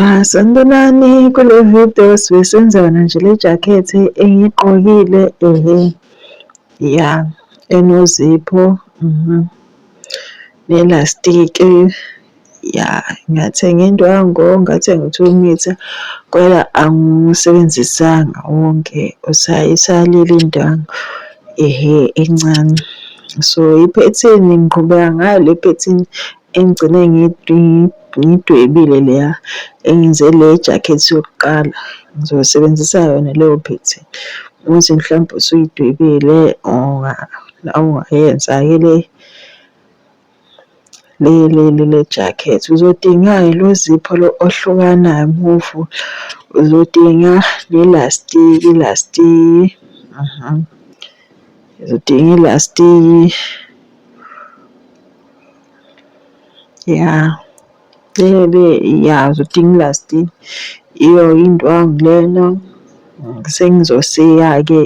Ah, sanibonani kule video sibe senza yona nje le jacket engiyigqokile ehe ya enozipho mhm nelastiki ya ngathenga indwango ngathenga u-two meter kodwa angiwusebenzisanga wonke usayisalile indwango ehe encane so iphethini ngiqhubeka ngayo le phethini engigcine ngiyidwebile leya engenze le jacket yokuqala ngizosebenzisa yona leyo pattern ukuthi mhlawumbe usuyidwebile ungayenza-ke le le le le le jacket uzodinga-ke lo zipho lo ohlukanayo muvu uzodinga nelastiki ilastiki uzodinga ilastiki. Ya lebe ya zodinga ilasti iyo indwangu lena sengizoshiya-ke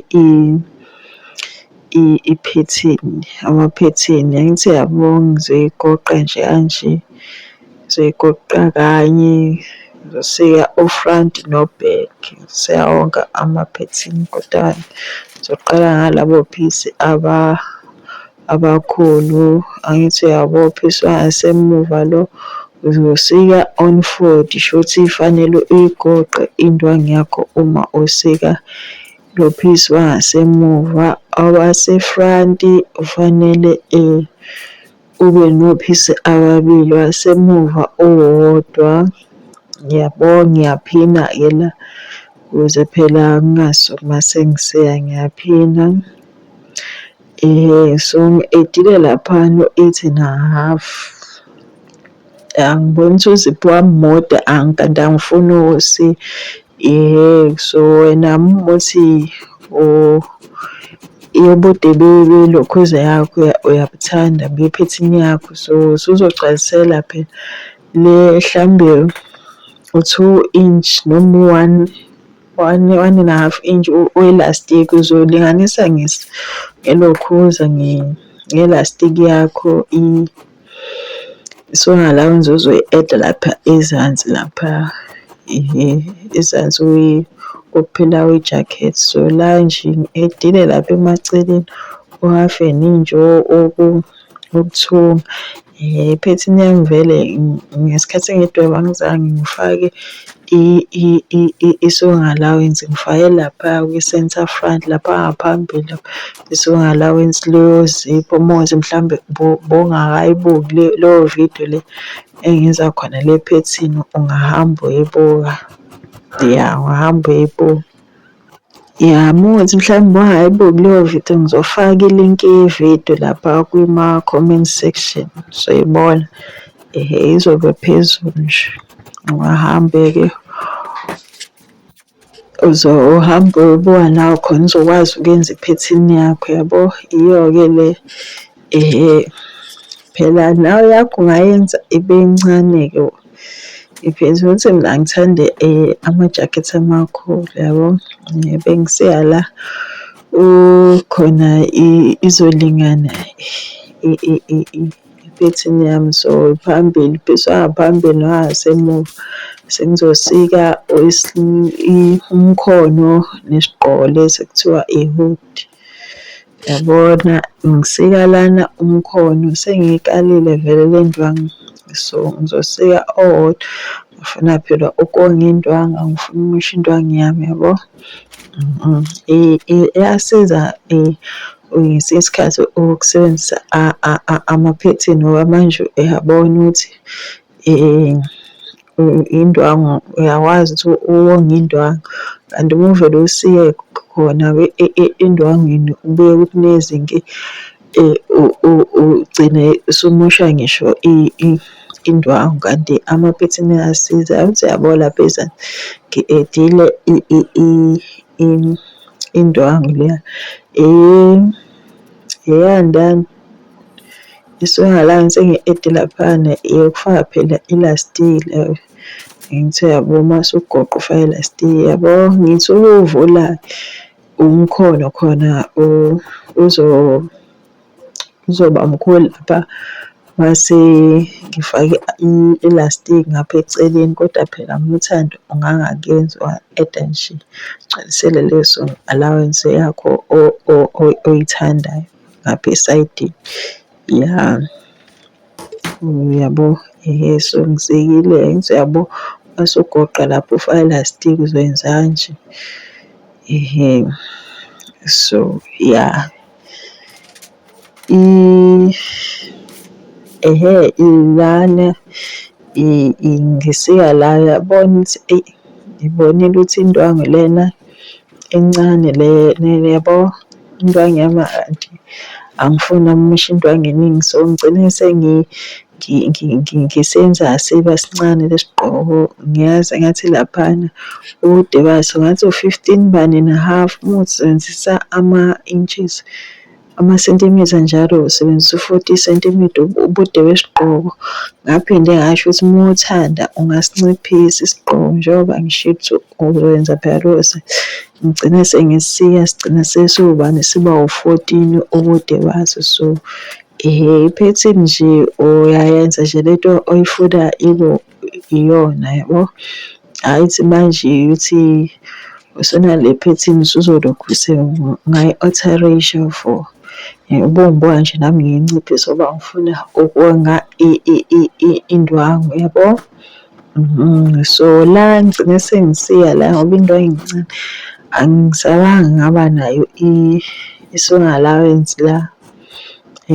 iphethini amaphethini angithi yabo ngizoyigoqa nje kanje. Ngizoyigoqa kanye ngizoshiya o-front no-back ngishiya wonke amaphethini kodwa ngizoqala ngalabo phisi . abakhulu angithi uyabopha isibanga esemuva lo uzosika on 40 shuthi ifanele uyigoqe indwangu yakho uma usika lopha isibanga semuva awasefront ufanele eh, ube nophisi ababili wasemuva owodwa ngiyabonga ngiyaphina ke la ukuze phela ngingasuki uma sengiseya ngiyaphina Eh, so ngi-edile lapha no-eight and a half. Angiboni ukuthi uziphi wami mode kanti angifuni usi yehhe so wena muthi yobude belokhuza yakho uyabuthanda bephethini yakho so suzogcwalisela phela le mhlawumbe u-two inch noma u-one one one and a half inch oelastic uzolinganisa ngelokhuza ngelastic yakho isona la nzuzo i-add lapha ezansi lapha ezansi kuphela kwi-jacket so la nje edile lapha emaceleni uhafe ninje oku ukuthunga. Iphethini yami vele ngesikhathi ngidweba angizange ngifake i-sewing allowance, ngifake lapha kwi-centre front lapha ngaphambili lapha i-sewing allowance liyozipha umuzi mhlawumbe bowungakayibuki le leyo vidiyo le engenza khona le phethini ungahamba uyoyibuka, ya ungahamba uyoyibuka. Yami ukuthi mhlawumbe uba hhayi bo kuleyo video ngizofaka ilinki ye-video lapha kuma-comment section soyibona. Ehhe izobe phezulu nje. Ungahambe-ke uzohambe uyobuka nawe khona uzokwazi ukuyenza iphethini yakho yabo. Iyo-ke le Phela nawe eyakho ungayenza ibe ncane-ke iveze ukuthi mina angithandi amajakhethi amakhulu yabo. Bengisiya la khona izolingana iphethini yami so phambili phesheya ngaphambili nangasemuva. Sengizosika umkhono nesigqoko lesi ekuthiwa i-hoodie. Yabona ngisika lana umkhono sengiyikalile vele le ndwangu. So ngizosika owodwa ngifuna phela ukonga indwangu angifuni umoshe indwangu yami yabo. Iyasiza ngesinye isikhathi ukusebenzisa amaphethini ngoba manje uyabona ukuthi. indwangu uyakwazi ukuthi uwonge indwangu kanti uma uvele usiye khona endwangwini ubuye ukuthi nezinto ugcine usumosha ngisho indwangu kanti amaphethini ayasiza. Yazi ukuthi uyabola apha ezansi ngidedile indwangu leya eyandani. Iswinga la ngithe ngi-ede laphayana eyokufaka phela ilastiki la, ngithi uyabo uma usugoqa ufake ilastiki yabo. Ngithi ukuwuvula umkhono khona uzoba mkhulu lapha mase ngifake ilastiki ngapha eceleni. Kodwa phela mina uThando ungangakenzi unga-eda nje ugcwalisele leso allowance yakho oyithandayo. ngapha esayidini ya uyabo ehe so ngisikile ngithi uyabo mase ugoqa lapho ufaka elastic uzoyenza kanje ehe so ya i ehe ilana ingisika la yabona ukuthi eyi ngibonile ukuthi indwangu lena encane le yabo into angiyama anti angifuni amushe into angeningi so ngigcine sengi ngisenza siba sincane lesigqoko ngiyazi ngathi laphana ubude baso ngathi u-fifteen bani and a half uma usebenzisa ama-inches. amasentimitha njalo usebenzisa u-40 sentimitha ubude besigqoko. Ngaphinde ngasho ukuthi uma uthanda ungasinciphisa isigqoko njengoba ngisho ukuthi uzokwenza phela lowo ngigcine sengisiya sigcina sesiwubani siba u-14 ubude baso so um iphethini nje uyayenza nje lento oyifuna ibo iyona yabo. Hhayi ukuthi manje ukuthi usunale phethini usuzolokhu ngayi-alterasia for ubomboya nje nami ngiyinciphisa ngoba ngifuna ukonga indwangu yabo. Mhm, so la ngigcine sengisiya la ngoba indwangu incane angisabanga ngaba nayo i-song allowance la.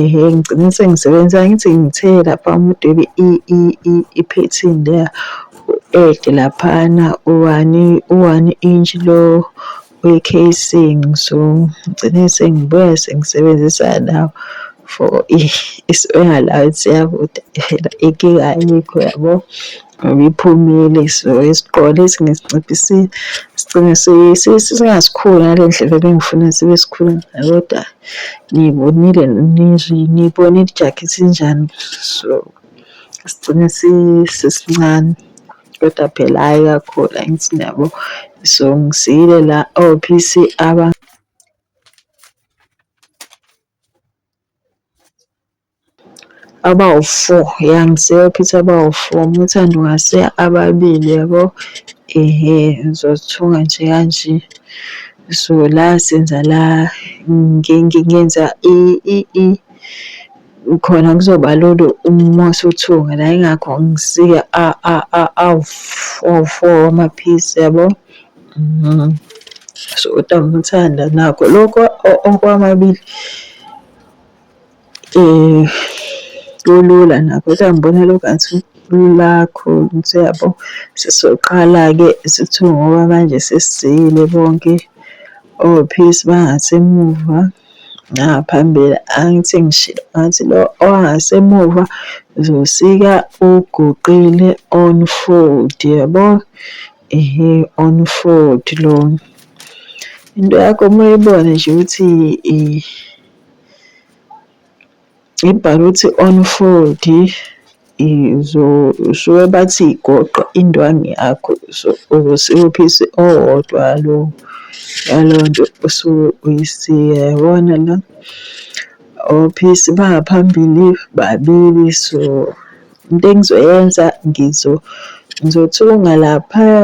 Ehe, ngigcine sengisebenzisa angithi ngithe lapha umuntu ebe iphethini leya u-add laphana u-one u-one inch lo we-casing so ngigcine sengibuya sengisebenzisa lawo for isiwela lawo siyakude phela inkinga ayikho yabo. Ngiphumile so isigqoke lesi ngisinciphisile sigcine singasikhulu ngale ndlela ebengifuna sibe sikhulu ngayo kodwa ngiyibonile ngiyibonile ijakhethi injani so sigcine sisincane kodwa phela hhayi kakhulu angithi niyabo so ngisiyile la o-P_C aba Abawu-four ya ngiseyophetha abawu-four uma uthanda ungase ababili yabo. Ehhe ngizozithunga nje kanje so la senza la ngenza khona kuzoba lula uma usuthunga la yingakho ngisika awu-four amaphisi yabo. So kodwa uma uthanda nakho lokho okwamabili. um kulula nakho kodwa ngibona lokho ngathi kulula kakhulu ukuthi uyabo sesoqala-ke sithi ngoba manje sesizile bonke ophilisi bangasemuva naphambili angithi ngishilo ngathi lo ongasemuva uzosika uguqile on fold yabo ehe on fold lona into yakho uma uyibona nje ukuthi . Ibhalwe ukuthi unfold usuke bathi goqa indwangu yakho so ukuze uphise owodwa lo yalo nto osuke uyisike yabona la. Ophisi bangaphambili babili so into engizoyenza ngizothunga laphaya .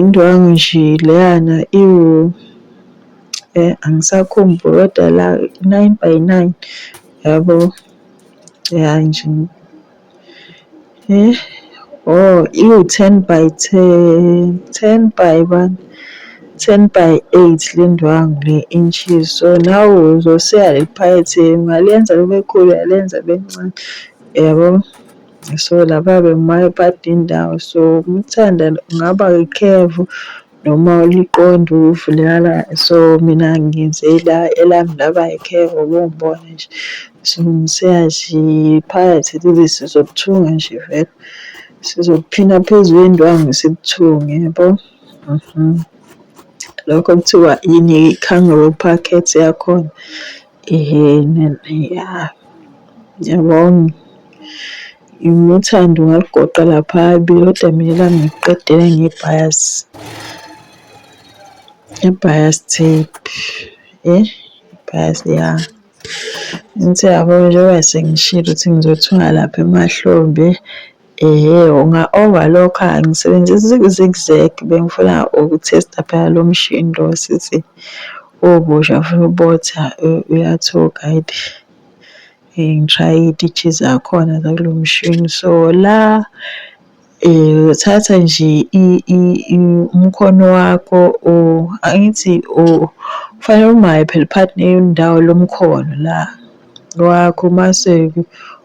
Indwangu nje leyana iwu angisakhumbuli kodwa la nine by nine yabo ya nje eh oh iwu-ten by ten, ten by one, ten by eight le ndwangu le inches so nawe uzoseya liphakethe ungalenza libe khulu uyalenza libe lincane yabo. So laba bebaphatha indawo so uma uthanda kungaba ikhefu noma uliqonde ukuvuleka la so mina ngenze la elami laba ikhefu ubungibone nje. So phakathi leli sizokuthunga nje vele. Sizokuphina phezu kwendwangu sikuthunge yabo. Lokho kuthiwa yini i-cangro pocket yakhona. Yabona uthando ngalugoqa lapha kodwa mina elangiqedela ngebhasi, ngebhasi tape yey ibhasi ya. Angithi uyabo njengoba sengishilo ukuthi ngizothunga lapha emahlombe Ehhe unga over lokho angisebenzisi zig zag bengifuna uku testa phela lo mshini lo sisi ubusha futhi ubotha uyathuka it ngishaye iy'titshi zakhona zakulo mshini so la uthatha nje umkhono wakho angithi kufanele umaye phela phakathi nendawo lomkhono la wakho mase-ke.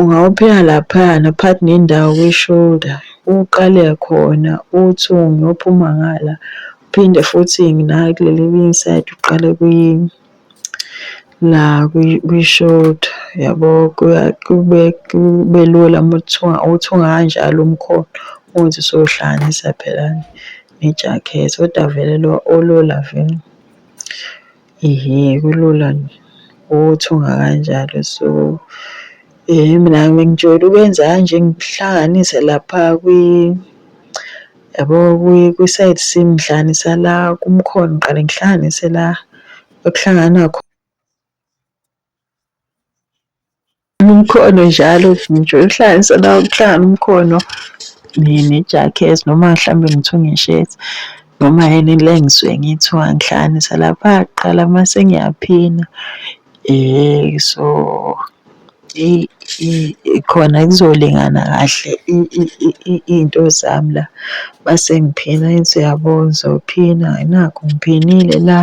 Ungawupheka laphayana phakathi nendawo kwi-shoulder, uqale khona uthi uyophuma ngala, uphinde futhi nakuleli elinye isayidi uqale la kwi-shoulder yabo. Kube kube lula uma uthunga uthunga kanjalo umkhono uze usuyohlanganisa phela nejakhethi, kodwa vele lo olula vele. Ehe, kulula nje ukuthunga kanjalo so mina ngijwayele ukwenza kanje ngihlanganise lapha kwi yabo kwi-side seam ngihlanganisa la kumkhono ngiqale ngihlanganise la okuhlangana khona. Umkhono njalo ngijola ukuhlanganisa la kuhlangana umkhono nejakhethi noma mhlambe ngithunge ishethi noma yini le engisuke ngiyithuka ngihlanganisa lapha kuqala mase ngiyaphina. So khona kuzolingana kahle iy'nto zami la mase ngiphina ngithi uyabo ngizophina nakhu ngiphinile la .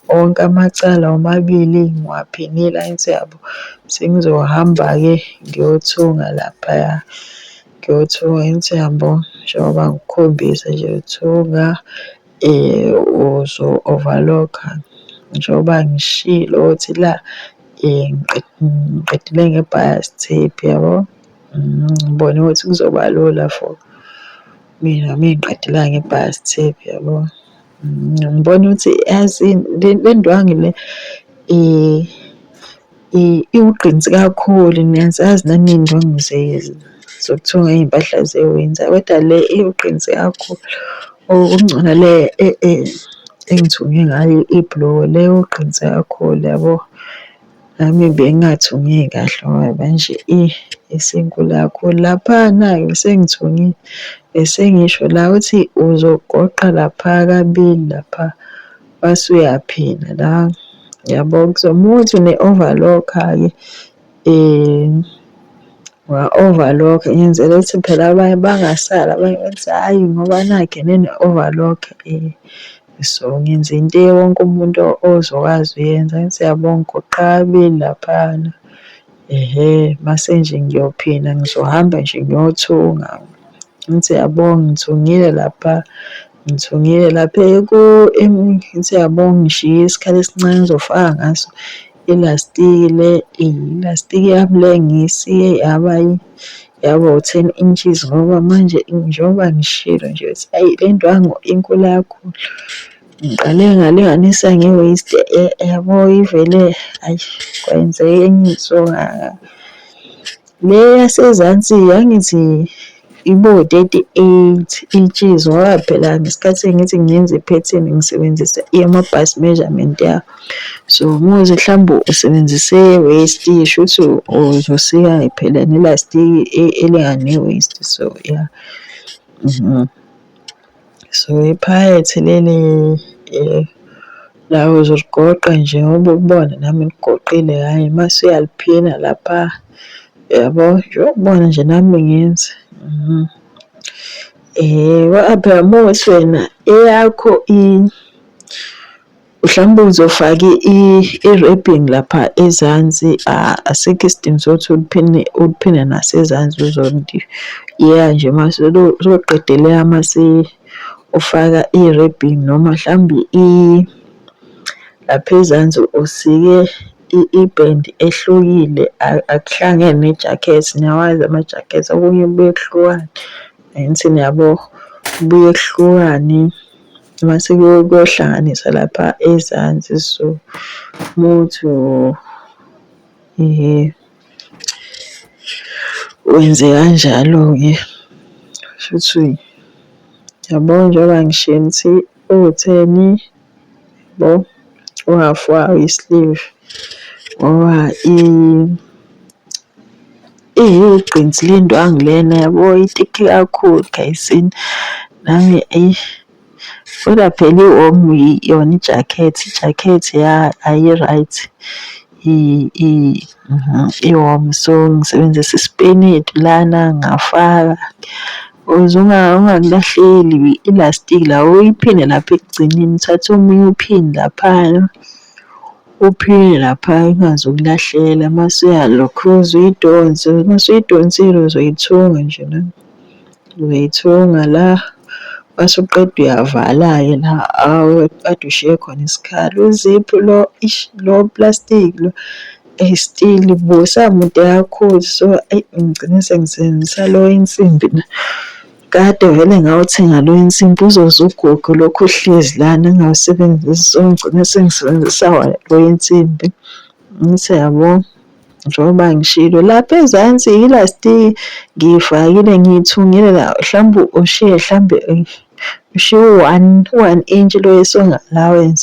Wonke amacala womabili ngiwaphenile angithi uyabo sengizohamba-ke ngiyothunga laphaya. Ngiyothunga angithi uyabo njengoba ngikukhombisa nje ukuthunga uzo-overlock-a njengoba ngishilo ukuthi la ngiqedile nge-bias tape uyabo. Ngibone ukuthi kuzoba lula for mina mengiqedile nge-bias tape uyabo. Ngibona ukuthi yazi le ndwangu le iwugqinsi kakhulu niyazazi nani iy'ndwangu zokuthunga iy'mpahla ze-winter koda le iwugqinsi kakhulu. Okungcono le engithunge ngayo ibhuluko le iwugqinsi kakhulu yabo. Nami bengathungi kahle ngoba manje eyi isinkulu kakhulu. Lapha nayo sengithungile, bese ngisho la uthi uzogoqa lapha kabili lapha wase uyaphina la. Yabo uma uthi une-overlock-ke wa-overlock ngenzela ukuthi phela abanye bangasali abanye bathi hhayi ngoba nakhu ene-overlock . So ngenza into wonke umuntu ozokwazi uyenza ngithi siyabonga ugoqabi laphana. Ehhe, mase nje ngiyophina ngizohamba nje ngiyothunga. Ngithi siyabonga ngithungile lapha, ngithungile lapha ngithi siyabonga ngishiye isikhala esincane engizofaka ngaso ilastiki le, ilastiki yami le ngiyisiye yaba Yabo ten inches ngoba manje njengoba ngishilo nje ukuthi ayi le ndwangu inkulu kakhulu. Ngiqale ngalinganisa nge-waist yabo ivele ayi kwenzeka enye into Le yasezansi yangithi ibo-thirty eight inches ngoba phela ngesikhathi sengithi ngenza iphethini ngisebenzisa eyama-bust measurement yabo. So muzi mhlawumbe usebenzise waste shuthi uzosika phela nelastiki e, elingane waste so yeah mhm. so iphayethe leli eh, la uzoligoqa nje ngoba ukubona nami ngigoqile hhayi mase uyaliphina lapha yabo nje ukubona nje nami ngenze mhm. um eh, wa-abrahamos wena eyakho i Mhlawumbe uzofaka i-wrapping lapha ezansi asikho isidingo sokuthi uliphine uliphine nasezansi uzoliyeya nje uma soqedele uma ufaka i-wrapping noma mhlawumbe lapha ezansi usike ibhendi ehlukile akuhlangene nejakhethi niyawazi amajakhethi okunye kubuye kuhlukane angithi niyabo kubuye kuhlukane. Mase kuyohlanganiswa lapha ezansi so muthi um wenze kanjalo-ke shuthi yabo njengoba ngishiye ngithi utheni yabo uhafu wayo i-sleeve ngoba Eyi igqinsi lendwangu lena yabo ithithi kakhulu gayizini. Nami eyi kodwa phela i-warm yona ijakhethi, ijakhethi ya ayi-right i-warm. So ngisebenzisa isipenedi lana ngafaka ukuze ungakulahleli ilastiki la uyiphinde lapha ekugcineni uthathe omunye uphinde laphaya. Uphile lapha ingaze ukulahlele mase uyalokhuza uyidonse mase uyidonsile uzoyithunga nje la uzoyithunga la mase uqeda uyavala-ke la kade ushiye khona isikhala uziphu lo ish lo plastic lo eyi still bo usamude kakhulu so eyi ngigcine sengisebenzisa lo wensimbi la. Kade vele ngawuthenga lo insimbi uzoze ugogo lokhu uhlezi lana ngawusebenzisi so ngigcine sengisebenzisa wona lo insimbi. Ngithe yabo njengoba ngishilo lapha ezansi yilastiki ngiyifakile ngiyithungile la mhlawumbe ushiye mhlawumbe ushiye u-one u-one inch lo esonga allowance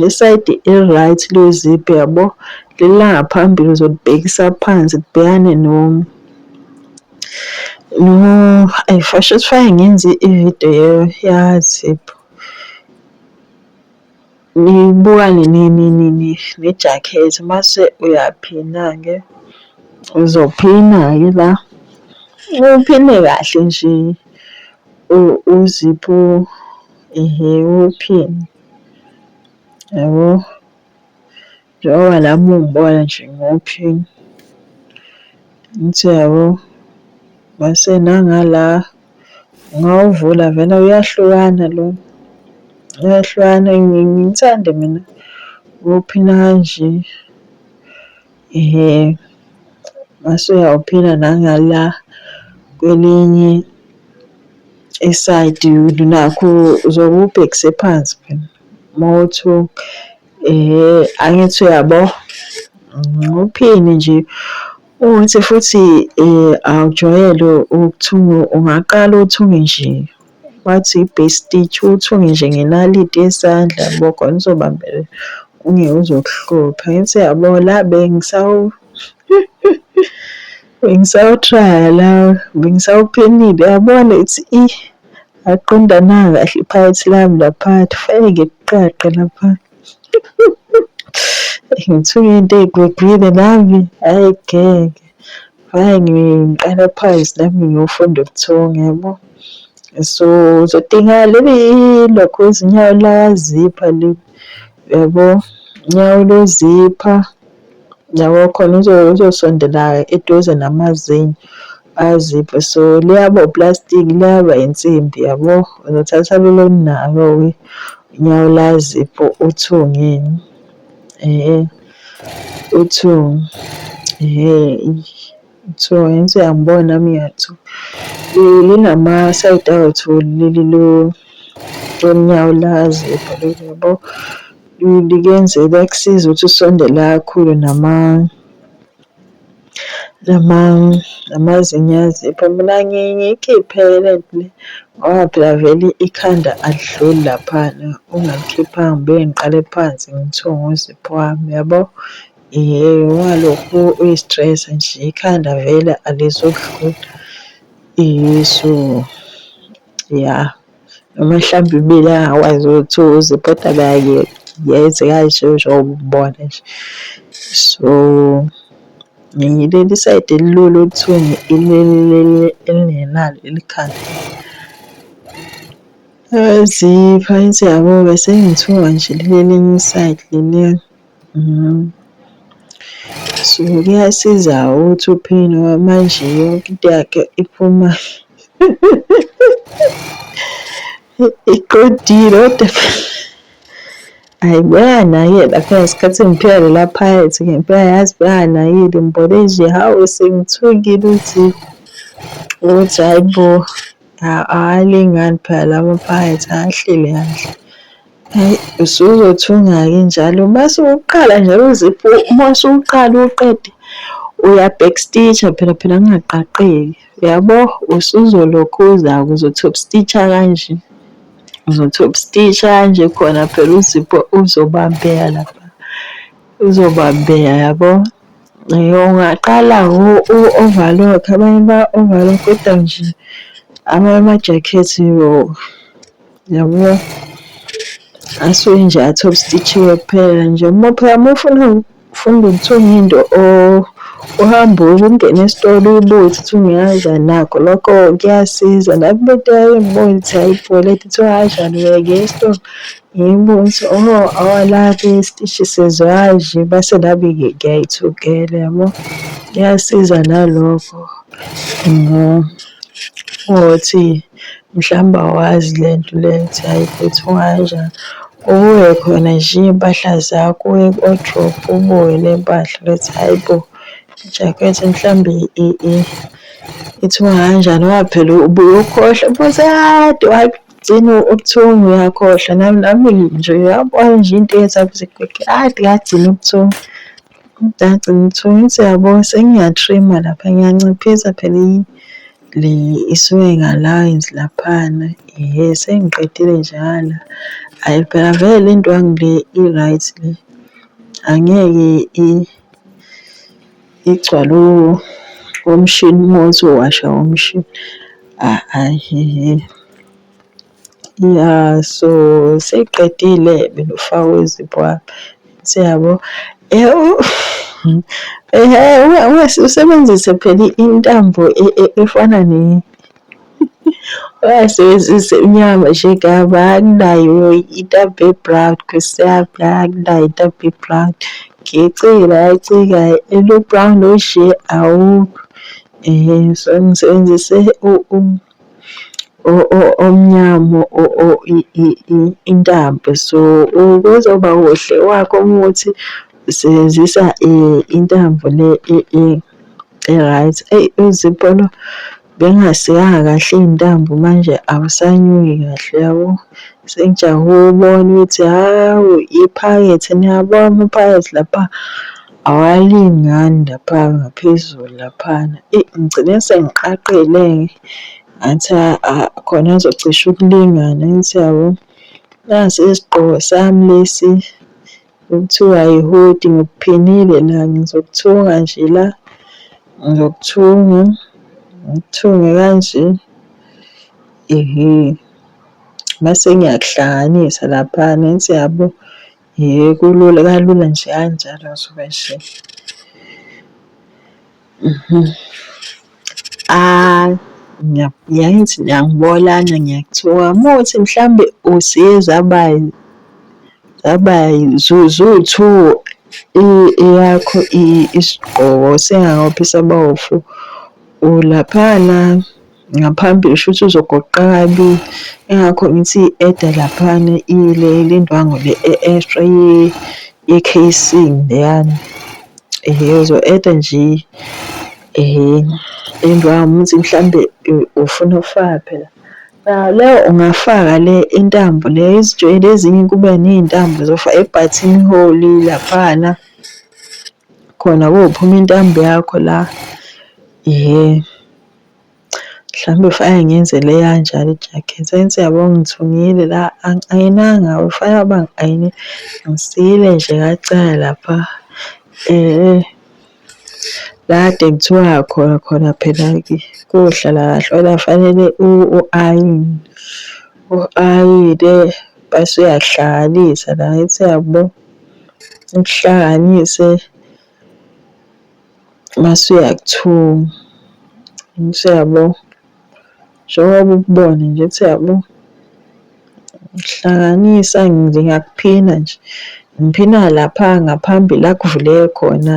Le sayidi i-right luyiziphi yabo lilanga phambili uzolibhekisa phansi libhekane no no ayi fasho sifake ngenze ividiyo yaziphi nibukane nejakhethi mase uyaphina-ke uzophina-ke la uphine kahle nje uziphu ehe uphine. Yabo? Njengoba nami ungibona nje ngi-okay, ngithi yabo mase nangala ungawuvula vele uyahlukana lo, uyahlukana ngithande mina uphila kanje. um masuyawuphila nangala kwelinye isayidi nakho uzobe ubhekise phansi phela uma uthi um angithi uyabo uphini nje uthi futhi um awujwayele ukuthunga ungaqala uthunge nje. Wathi i-base stitch uthunge nje ngenaliti yesandla yabo khona uzobambela ungeke uzokuhlupha. Ngithi yabo la bengisawu bengisawutraya la bengisawuphenile yabona ithi i aqondananga kahle iphakathi lami lapha kufanele ngikuqaqe lapha. Ngithunge into eyigwegwile nami hhayi ngeke. Hhayi ngiqala phakathi nami ngiyofunda ubuthongo yabo. So uzodinga leli lokho izinyawo lazipha le yabo nyawo lozipha yabo khona uzosondela eduze namazinyo aziphe so liyaba uplastic liyaba insimbi yabo uzothatha lelo nalo unyawo lazipho uthungeni. Ehhe uTho ehhe uTho ngithi uyangibona nami ngiyaTho linama-side awetholi leli lo lonyawo lazi ebholeni yabo. Likuyenze liyakusiza ukuthi usondele kakhulu nama Noma amazinyo aziphi mina ngiye ngiyikhiphe le nto le ngoba phela vele ikhanda alidluli laphana ungalikhiphanga ngibuye ngiqale phansi ngithiwe ngozipho wami yabo. Ungalokhu uyi-stress nje ikhanda vele alizukudlula so ya. noma mhlawumbe imile angakwazi ukuthi uze kodwa kanye yenze kanje njengoba umbona nje. So ngileli sayidi elilula okuthini ileli leli elingenalo ikhanda. Yazi phansi yabo-ke sengithuka nje leli elinye isayidi leli. So kuyasiza ukuthi uphini ngoba manje yonke into yakhe iphuma iqondile kodwa Ayi bayanakela phela isikhathi ngiphila lela phakathi ngempela yazi bayanakile ngibone nje hawu sengithukile ukuthi ukuthi hhayi bo awalingani phela lama phakathi ahleli kahle. Hayi usuzothunga-ke njalo uma suwuqala nje uziphu uma usuwuqala uwuqede uya-back stitch-a phela phela kungaqaqeki yabo, usuzolokhu uza-ke uzo-top stitch-a kanje, uzo-top stitch-a kanje khona phela uzipho uzobambeka lapha, uzobambeka yabo. Ungaqala u-overlock abanye ba-overlock-a nje amanye amajakhethi . Yabo. Asuke nje athola isititshiwe kuphela nje. Uma phela uma ufuna ufunda ukuthenga into or uhamba ungene esitolo uyibuke ukuthi ungayazi nakho lokho kuyasiza. Nami into engibona ukuthi ayibhole ethi kuthiwa kanjani uyeke esitolo ngiyibone ukuthi oho awalaphi isitishi sezwaji base nami ngiyayithukela yabo. Kuyasiza nalokho ngokuthi. mhlawumbe awazi le nto le ukuthi hhayi phethwa kanjani. Ubuke khona nje iy'mpahla zakho uye ku-wardrobe ubuke ney'mpahla ukuthi hhayi bo ijakhethi mhlawumbe ithiwa kanjani ngoba phela ubuye ukhohlwe ubuze kade wagcina ubuthungu uyakhohlwa nami nami nje uyabona nje into eyenza kade ngagcina ubuthongo. Mdade ngithuke ngithi yabo sengiya-trim-a lapha ngiyanciphisa phela le isuke ngalayini laphana. Hhe sengiqedile nje ngala, hhayi phela vele le ndwangu le i-right le angeke igcwale omshini uma usuwasha umshini hhayi hhe. Naso seyiqedile benifakwe izipho apha siyabo. Ungase usebenzise phela intambo efana ne ungasebenzisi inyama nje kuyabo anginayo intambo e-brown nkosi yami anginayo intambo e-brown. Ngiyacela ngiyacika lo-brown onje awukho so ngisebenzise . omnyama intambo. So, ukuze uba kuhle wakho umuthi sebenzisa intambo le e-right. Eyi uZipho lo bengasikanga kahle iy'ntambo manje awusanyuki kahle yabo. Sengijahe ukubona ukuthi hhawu iphakethe niyabona iphakethe lapha. Awalingani lapha ngaphezulu laphana. Eyi ngigcine sengiqaqile-ke, ngathi khona azocisha ukulingana angithi yabo. Nasi isigqoko sami lesi okuthiwa i-hoodie ngikuphinile la ngizokuthunga nje la, ngizokuthunga ngikuthunge kanje. Ehe, mase ngiyakuhlanganisa laphana angithi yabo. Yhe kulula kalula nje kanjalo ngisuke nje ayi ngiyangithi ngiyangibolana ngiyakuthoka muthi mhlambe usiye zaba zaba zuwu-two eyakho isigqoko singakaphi saba wu-four ulaphana. ngaphambili shuthi uzogoqabi ingakho ngithi i-eda laphana ile lendwangu le e-extra ye-casing leyana ehe uzo-eda nje ehe indwangu ukuthi mhlambe ufuna ukufaka phela leyo ungafaka le intambo le izijwayele ezinye kube ney'ntambo zofa e-button hole laphana khona kophuma intambo yakho la ehe. Mhlawumbe kufanele ngiyenzele eyanjalo ijakhethi. Saint, siyabonga ngithungile la angayinanga kufanele uba ngi-ayine. Ngisile nje kancane lapha la kade kuthiwa khona khona phela kohlala kahle kodwa kufanele u-ayine, u-ayine bese uyakuhlanganisa la angithi uyabo, ukuhlanganise. masuya ku-two usuyabo njengoba ukubona nje ukuthi yabo hlanganisa nje ngiyakuphina nje ngiphina lapha ngaphambili la kuvuleke khona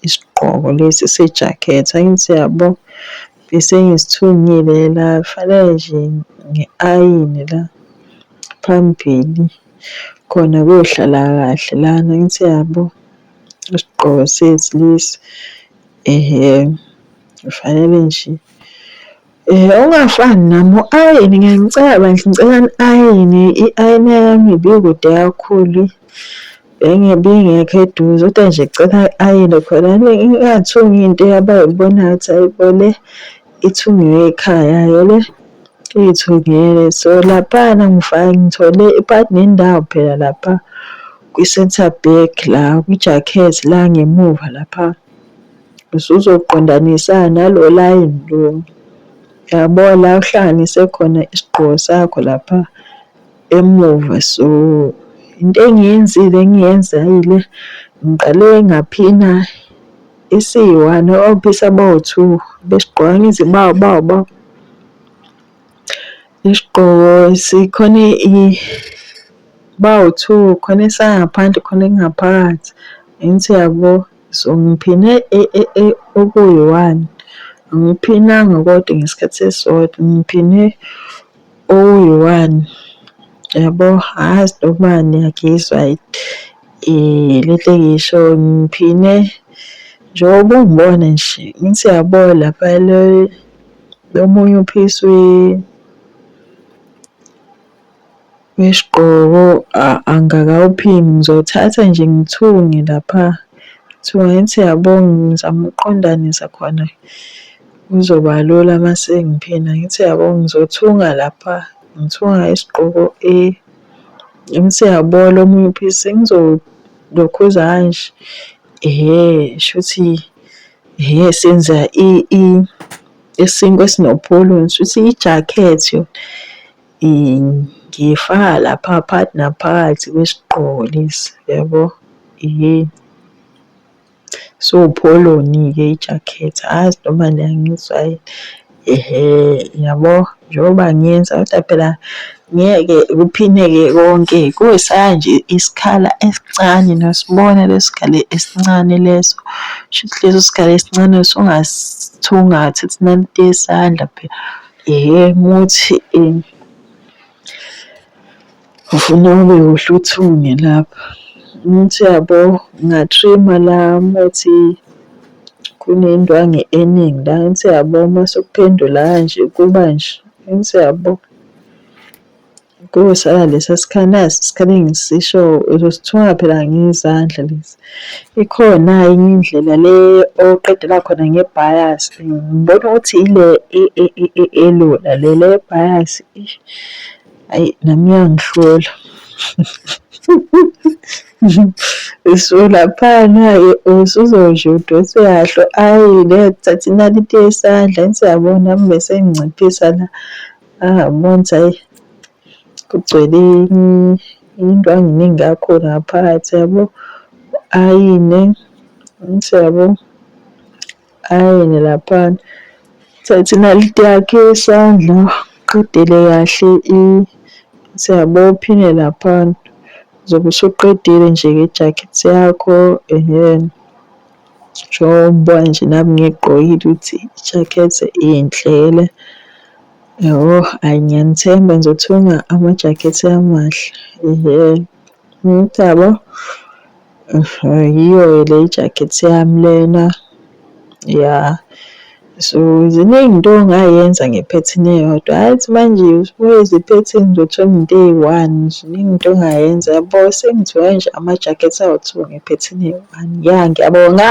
isigqoko lesi sejakhethi angithi yabo bese ngisithungile la kufanele nje ngi-ayine la phambili khona kuyohlala kahle lana angithi yabo. Isigqoko sethu lesi kufanele nje ongafani nami u-ayine ngeke ngicela bandla ngicela ni-ayine i-ayina yami ibikude kakhulu ibingekho eduze kodwa nje cela i-ayine khona ingathungi into abayibonayo ukuthi ayi bo le. ithungiwe ekhaya yale iyithungele so laphana ngifake ngithole ipart nendawo phela lapha kwi-center back la kwi-jacket la ngemuva lapha usuzoqondanisa nalo line lo yabo la uhlanganise khona isigqoko sakho lapha emuva so into engiyenzile engiyenzile ngiqale ngaphina Isiyi-one obisi abawu-two besigqoka ngezibawubawu isigqoko sikhona bawu-two khona esangaphandle khona ekungaphakathi angithi uyabo. So ngiphine okuyi-one angiphinanga kodwa ngesikhathi esisodwa ngiphine. Okuyi-one yabo angazi noma niyagizwa le nto engiyishoyo ngiphine njengoba ungibona nje ngithi yabo lapha le omunye uphisa Wesigqoko angakawuphimi ngizothatha nje ngithunge lapha kuthiwa ngithi yabo ngizama ukuqondanisa khona kuzoba lula uma sengiphina ngithi yabo ngizothunga lapha ngithunga isigqoko A ngithi yabo lo omunye uphisi ngizolokhuza kanje ehhe shuthi ehhe senza isinkwa esinopholo shuthi ijakhethi yona. Ngiyifaka lapha phakathi naphakathi kwesigqoko lesi yabo. Iwupholoni-ke i-jacket angazi noma niyangizwa yini. Ehhe, yabo njengoba ngiyenza kodwa phela ngeke kuphineke konke kusala nje isikhala esincane niyosibona leso sikhala esincane leso. Kushuthi leso sikhala esincane usungasithungatha uthi nalithe isandla phela. Yee muthi um ufuna ube uhluthunge lapha muthi yabo ngatrima la muthi kunendwangu eningi la ngithi yabo uma sekuphendula kanje kuba nje ngithi yabo. Kusala lesa sikhala nasi isikhali engisisho uzosithunga phela ngezandla lesi. Ikhona enye indlela le oqedela khona nge-bias ngibona ukuthi ile elula le le bias eish ayi nami iyangihlula. Usulaphana-ke usuzosheshe udonse kahle ayi ngeke thatha inaliti yesandla angithi uyabona nami besenginciphisa la. Ah months ayi kugcwele into anginingi kakho ngaphakathi yabo ayine ngithi yabo ayine laphana thatha inaliti yakhe isandla qedele kahle i siyabo phine laphana zobe usuqedile nje ngejakhethi yakho ehhe. Njengoba nje nami ngiyigqokile ukuthi ijakhethi inhle le. Yhoo ayi ngiyanithemba nje ukuthenga amajakhethi amahle yhoo. Ukuthi yabo yiyo-ke le ijakhethi yami lena ya. So ziningi into ongayenza ngephethini eyodwa hhayi ukuthi manje usubuya iziphethini zothenga into eyi-one ziningi into ongayenza yabo. Sengithiwa nje ama-jacket awu-two ngephethini eyi-one. Ya ngiyabonga.